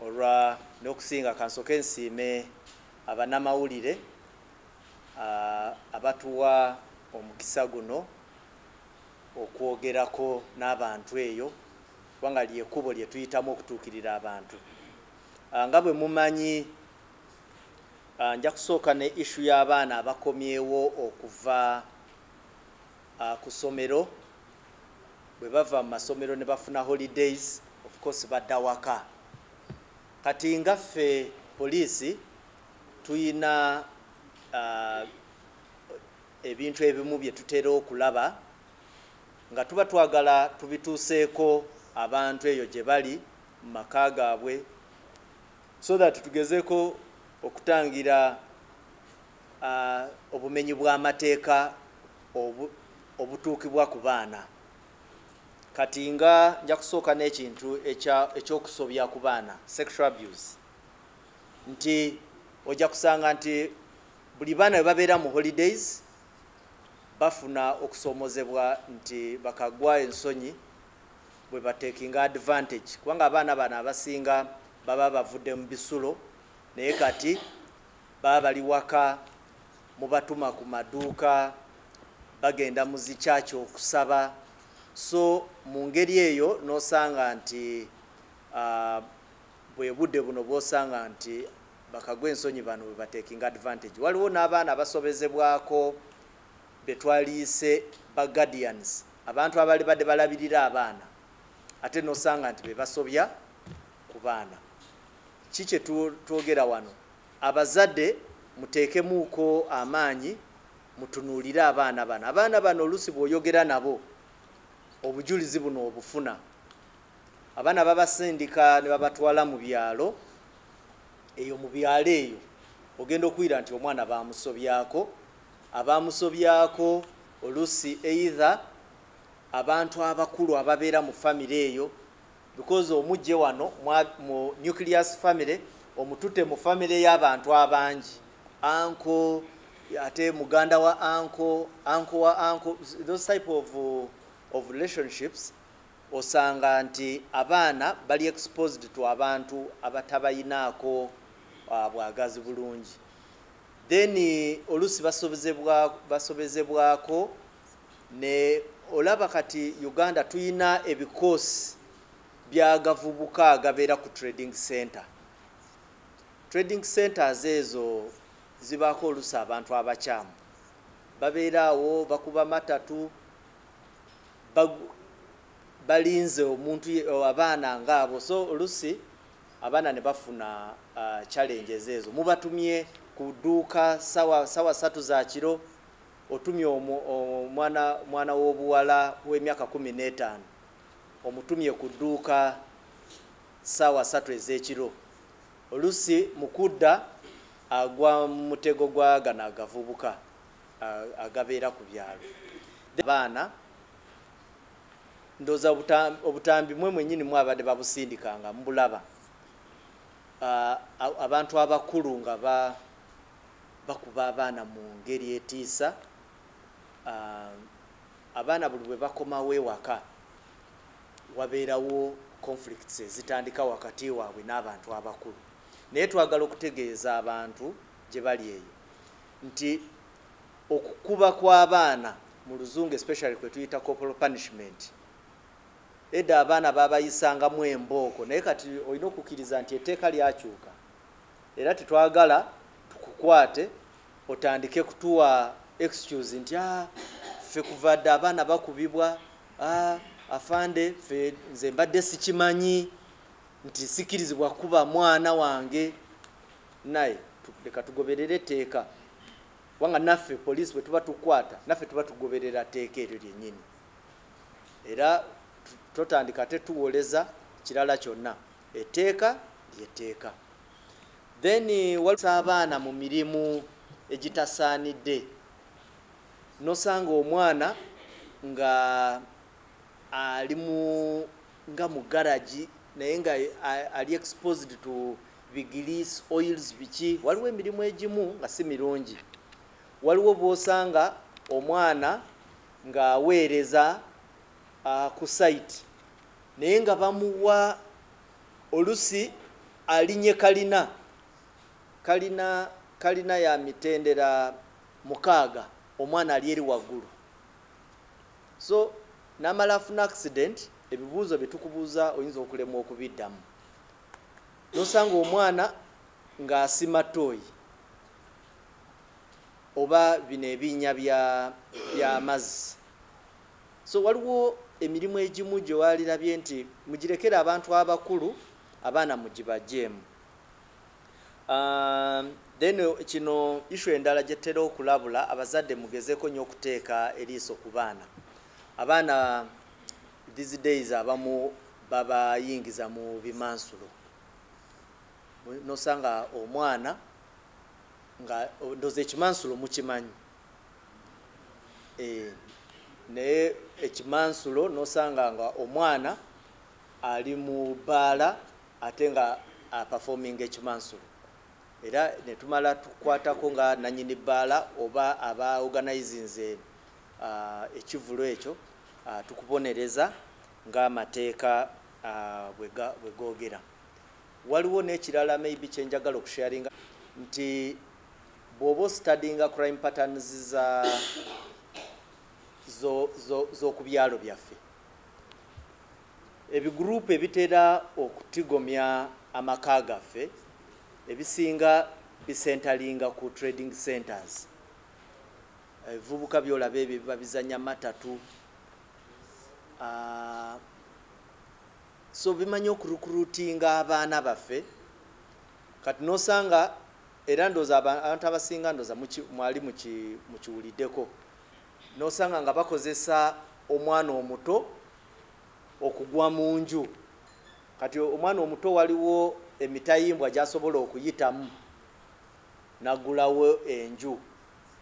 olwa n'okusinga kansoke nsiime abanamawulire abatuwa omukisa guno okwogerako n'abantu eyo kubanga lyekubo lye tuyitamu okutuukirira abantu nga bwe mumanyi nja kusooka ne ishu y'abaana abakomyewo okuva uh, ku somero bwe bava mu masomero ne bafuna holidays of course badda waka kati nga ffe poliisi tuyina uh, ebintu ebimu bye tutera okulaba nga tuba twagala tubituuseeko abantu eyo gye bali mu maka gaabwe so that tugezeeko okutangira obumenyi bw'amateeka obutuukibwa ku baana kati nga nja kusooka n'ekintu ekyokusobya ku baana sexual abuse nti ojja kusanga nti buli baana bwe babeera mu holidays bafuna okusoomozebwa nti bakagwa ensonyi bwe batekinga advantage kubanga abaana bano abasinga baba bavudde mu bisulo naye kati Baba bali waka, mubatuma ku maduuka, bagenda mu zi church okusaba, so mu ngeri eyo n'osanga nti bwe budde buno bw'osanga nti bakagwa ensonyi bano bwe batekinga advantage. Waliwo n'abaana abasobezebwako be twaliise ba guardians, abantu abali badde balabirira abaana ate n'osanga nti be basobya ku baana. Ki kye twogera wano? Abazade muteekemuuko amaanyi mutunuulire abaana bano. Abaana bano oluusi bw'oyogera nabo obujulizi buno obufuna. Abaana babasindika ne babatwala mu byalo, eyo mu byalo eyo ogenda okuwulira nti omwana baamusobyako. Abaamusobyako oluusi either abantu abakulu ababeera mu famire eyo. because omujje wano mu nucleus family omutute mu family y'abantu abangi anko ate muganda wa anko anko wa anko those type of, of relationships osanga nti abaana bali exposed to abantu abatabayinaako uh, bwagazi bulungi then oluusi basobezebwako Ne olaba kati Uganda tuyina ebikoosi byagavubuka agabeera ku trading center. Trading centers ezo zibaako olusa abantu abakyamu. Babeera awo bakuba matatu balinze omuntu abaana ngaabo so olusi abaana ne bafuna uh, challenges ezo mubatumye ku dduuka sawa sawa satu za kiro Otumye omwana w'obuwala w'emyaka kumi n'etaano omutumye ku dduuka ssaawa ssatu ez'ekiro oluusi mu kudda agwa mu mutego gwa gano agavubuka agabeera ku byalo abaana ndoza obutambi mwe mwenyini mwabadde babusindikanga mbulaba abantu abakulu nga ba bakuba abaana mu ngeri etiisa abaana buli bwe bakomawo ewaka wabeerawo conflicts ezitandika wakati waabwe n'abantu abakulu naye twagala okutegeeza abantu gye bali eyo nti okukuba kw'abaana mu luzungu especially kwe tuyita corporal punishment edda abaana babayisangamu embooko naye kati olina okukkiriza nti etteeka lyakyuka era tetwagala tukukwate otandike kutuwa excuse nti a ah, ffe kuva dda abaana bakubibwa a ah, afande ffe nze mbadde sikimanyi nti sikirizibwa kuba mwana wange naye leka tugoberere etteeka kubanga naffe poliisi bwe tuba tukwata naffe tuba tugoberera tteeka eryo lyennyini era totandika ate tuwoleza kirala kyonna Etteeka ly'etteeka. Then walisa abaana mu mirimu egitasaanidde nosanga omwana nga ali mu nga mu garagi naye nga ali exposed to bigilis oils biki waliwo emirimu egimu nga si mirungi waliwo bwosanga omwana ng'aweereza uh, ku site naye nga bamuwa olusi alinye kalina kalina kalina ya mitendera mukaaga omwana ali eri waggulu so namala afuna accident ebibuuzo byetukubuuza oyinza okulemwa okubiddamu nosanga omwana ng'asima tooyi oba bino ebinya by'amazzi So waliwo emirimu egimu gye walirabye nti mugirekere abantu abakulu abaana mugibajeemu. Um, then kino issue endala gye tutera okulabula abazadde mugezeeko nnyo okuteeka eriiso ku baana. Abaana these days abamu babayingiza mu bimansulo nosanga omwana nga ndoza ekimansulo mukimanyi eh, naye ekimansulo nosanga nga omwana ali mu baala ate nga apafominga ekimansulo era netumala tukwatako nga nanyini baala oba aba organizinze ah, ekivulu ekyo ah, tukubonereza ng'amateeka ah, bwegogera waliwo n'ekirala maybe kyenjagala okusharinga nti bwoba ostadinga crime patterns za z'okubyalo byaffe ebiguruupu ebitera okutigomya amaka gaffe ebisinga bisentalinga ku trading centers ebivubuka byolaba ebyo biba bizanya matatu ah, so bimanyi okurukurutinga abaana baffe kati nosanga Era ndoza abantu abasinga ndoza mwali mukiwulideko nosanga nga bakozesa omwana omuto okugwa munju kati omwana omuto waliwo emitayimbwa gyasobola okuyitamu nagulawo enju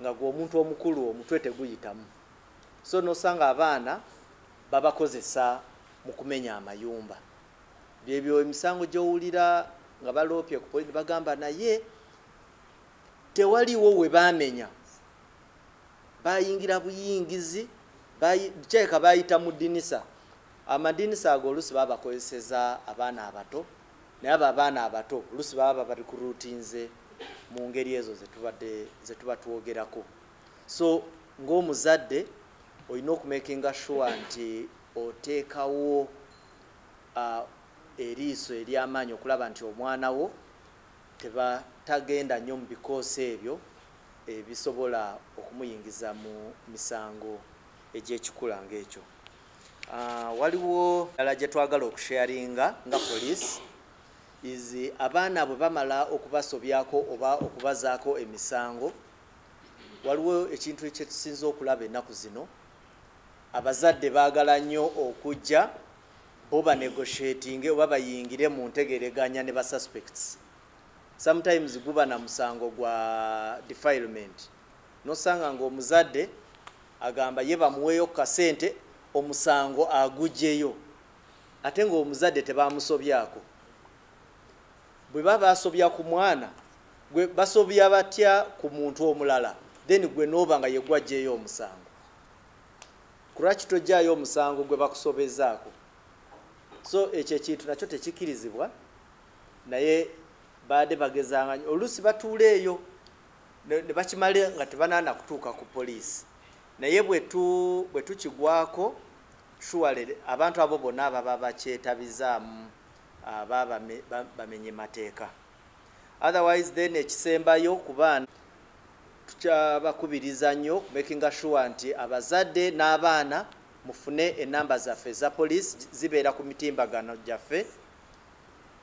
nga gwe omuntu omukulu omutwe teguyitamu so nosanga abaana babakozesa mukumenya amayumba Byebyo emisango gyowulira nga baloopye ku polisi bagamba naye tewaliwo we baamenya bayingira buyingizi kyeka bayita mu dinisa amadinisa ago olusi babakozeseza abaana abato naye abo abaana abato olusi baba bali ku rutinze mu ngeri ezo zetuba twogerako so ngaomuzadde olina okumakinga sure nti oteekawo eriiso ery'amaanyi okulaba nti omwana wo tagenda nnyo mu bikoosi ebyo ebisobola okumuyingiza mu misango egy'ekikula ng'ekyo. Waliwo ddala gye twagala okusharinga nga poliisi izi abaana bwe bamala okubasobyako oba okubazaako emisango waliwo ekintu ekyetusinza okulaba ennaku zino Abazadde baagala nnyo okujja bo ba negotiatinge oba bayingire mu ntegereganya ne ba suspects. Sometimes guba na musango gwa defilement. Nosanga nga omuzadde agamba ye bamuweeyo ku kasente omusango agugyeyo ate nga omuzadde tebamusobyako. Bwe baba basobya ku mwana gwe basobya batya ku muntu omulala then gwe nooba nga yegwajjeeyo omusango. kulwaki tojjaayo omusango gwe bakusobezaako so ekyo ekintu nakyo tekikirizibwa naye baade bagezangany oluusi batuula eyo ne bakimale nga tebanaana kutuuka ku poliisi naye bwe tukigwako shuwale abantu abo bonna ababa bakyetabizaamu ah, baba bamenye mateeka otherwise then ekisembayo ku baana tukyabakubiriza nnyo makinga sure nti abazadde n'abaana mufune enamba zaffe eza poliisi zibeera ku mitimbagano gyaffe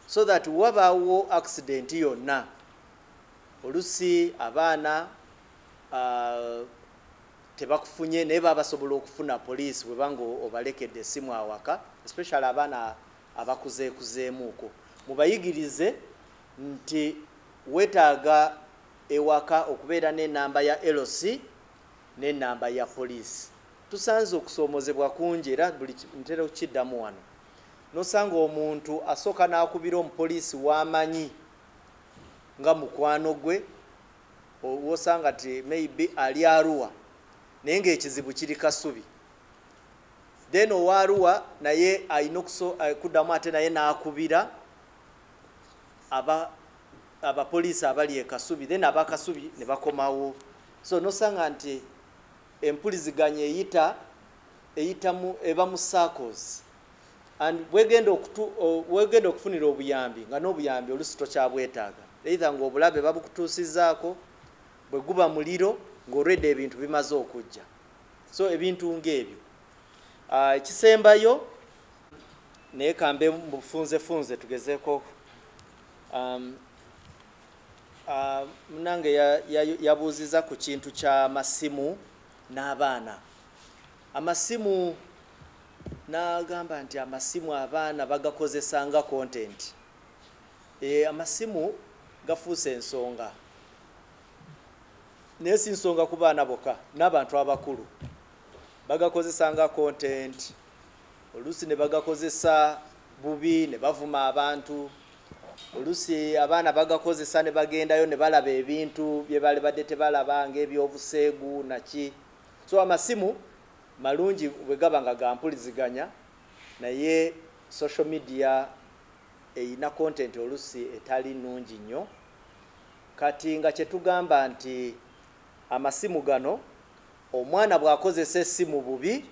so that wabaawo accident yonna olusi abaana uh, tebakufunye naye baba basobola okufuna poliisi webanga obalekedde esimu awaka especially abaana abakuzeekuzeemuuko mubayigirize nti wetaaga ewaka okubeera n'enamba ya LC n'enamba ya poliisi tusanze okusoomozebwa kungi era buli ntera okukiddamu wano nosanga omuntu asooka n'akubira omupoliisi w'amanyi nga mukwano gwe wosanga ti maybe ali aruwa naye ngaekizibu kiri kasubi then owa Arua naye alina eh, kuddamu ate naye n'akubira abapoliisi abali e Kasubi then aba Kasubi ne bakomawo so nosanga nti empuliziganya eyita eyitamu eba mu circles and wegenda okutu wegenda okufunira obuyambi nga n'obuyambi olusi tokyabwetaaga either ng'obulabe babukutuusizaako bwe guba muliro ng'olwedde ebintu bimaze okujja so ebintu ng'ebyo ah, ekisembayo naye kambe mufunzefunze tugezeeko um, ah, munange yabuuziza ku kintu ky'amasimu n'abaana amasimu n'agamba nti amasimu abaana bagakozesa nga kontenti eh, amasimu gafuuse ensonga naye si nsonga ku baana bokka n'abantu abakulu bagakozesa nga kontenti oluusi ne bagakozesa bubi ne bavuma abantu oluusi abaana bagakozesa ne bagendayo ne balaba ebintu bye bali badde tebalaba ng'ebyobuseegu naki so amasimu malungi bwe gaba nga gampuliziganya naye social media erina kontenti oluusi etali nnungi nnyo Kati nga kyetugamba nti amasimu gano omwana bwakozesa esimu bubi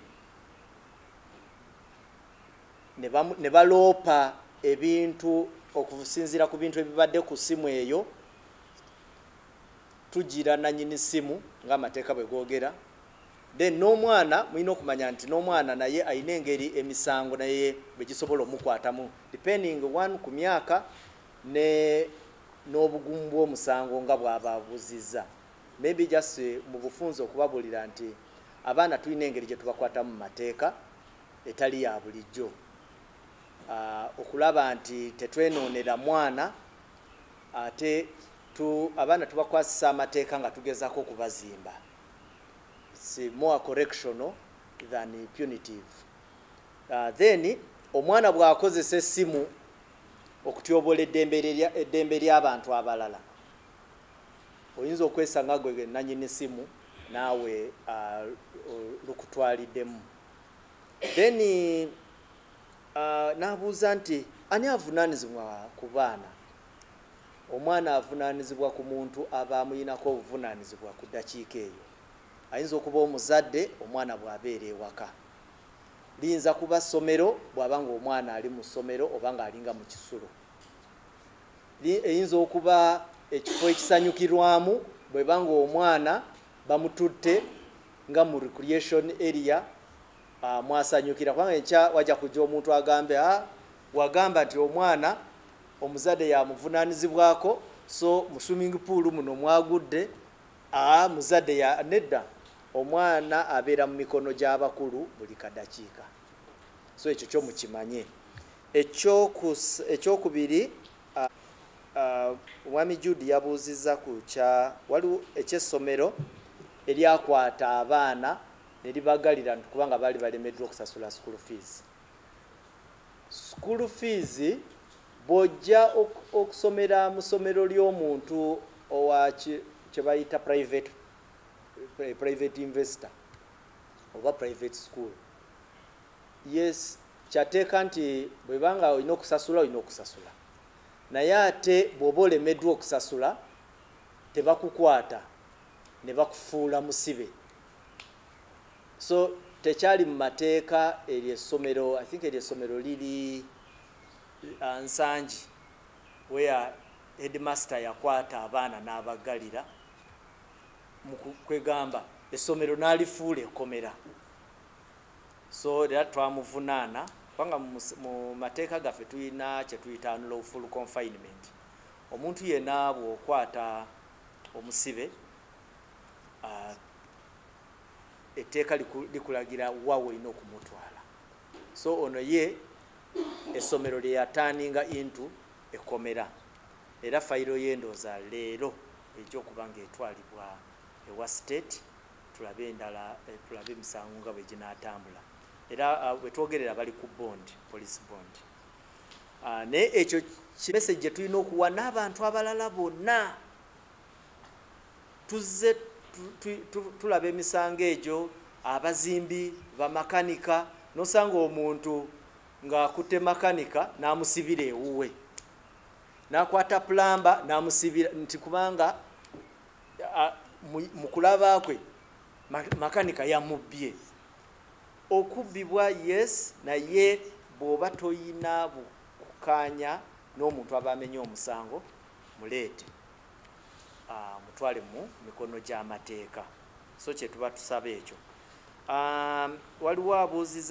ne baloopa ebintu okusinziira ku bintu ebibadde ku simu eyo tugira nanyini simu nga amateeka bwe googera then n'omwana mulina okumanya nti n'omwana naye alina engeri emisango naye bwe gisobola omukwatamu depending one ku myaka ne n'obugumu bw'omusango nga bwababuzizza may be just mu bufunze okubabulira nti abaana tulina engeri gye tubakwatamu mu mateeka etali ya bulijjo ah, okulaba nti tetwenoonera mwana ate tu abaana tubakwasisa amateeka nga tugezako okubazimba si more correctional than punitive uh, then omwana bw'akozesa essimu okutyoboola eddembe ly'abantu abalala oyinza okwesanga gwe nanyini simu naawe uh, lukutwaliddemu then uh, n'abuuza nti ani avunaanizibwa ku baana omwana avunaanizibwa ku muntu aba amuyinako obuvunaanizibwa ku ddakiika eyo ayinza okuba omuzadde omwana bw'abeera ewaka Liyinza kuba ssomero bw'aba ng'omwana ali mu ssomero oba ng'alinga mu kisulo. Eyinza okuba ekifo ekisanyukirwamu bw'eba ng'omwana bamututte nga mu recreation area ah, mwasanyukira kubanga enkya wajja kujja omuntu agambe a ah, wagamba nti omwana omuzadde yamuvunaanyizibwako so mu swimming pool muno mwagudde a ah, muzadde nedda Omwana abeera mu mikono gy'abakulu buli kadakiika, so ekyo kyo mukimanye. Ekyokubiri, Omwami Jude yabuuzizza ku kya waliwo eky'essomero eryakwata abaana ne libagalira nti kubanga baali balemeddwa okusasula school fees. School fees bw'ojja okusomera mu ssomero ly'omuntu owa kye bayita private private investor oba private school yes kyateeka nti bwebanga olina okusasula olina okusasula naye ate bwoba olemeddwa okusasula tebakukwata ne bakufuula musibe so tekyali mu mateeka eryo essomero i think eryo essomero liri uh, nsangi where headmaster yakwata abaana n'abaggalira kwegamba essomero n'alifuula ekkomera so era twamuvunaana kubanga mu mateeka gaffe tulina kyetuyita unlawful confinement omuntu yena bwokwata omusibe uh, etteeka likulagira wa wolina okumutwala so ono ye essomero lyeyataninga intu ekkomera era fayiro ye ndowooza leero ejja okuba ng'etwalibwa ewa state tulabe endala eh, tulabe emisango nga bwe ginaatambula era ah, bwe twogerera bali ku bond police bond ah, naye ekyo kimese gye tulina okuwa n'abantu abalala bonna tuzze tulaba emisango egyo abazimbi bamakanika nosanga omuntu ng'akutte makanika n'amusibira ewuwe n'akwata pulamba n'amusibira nti kubanga mu kulaba kwe makanika yamubbye okubbibwa yes naye bw'oba toyina bukukanya n'omuntu aba amenye omusango muleete ah, mutwale mu mikono gy'amateeka so kyetuba tusaba ekyo ah, waliwo abuuziza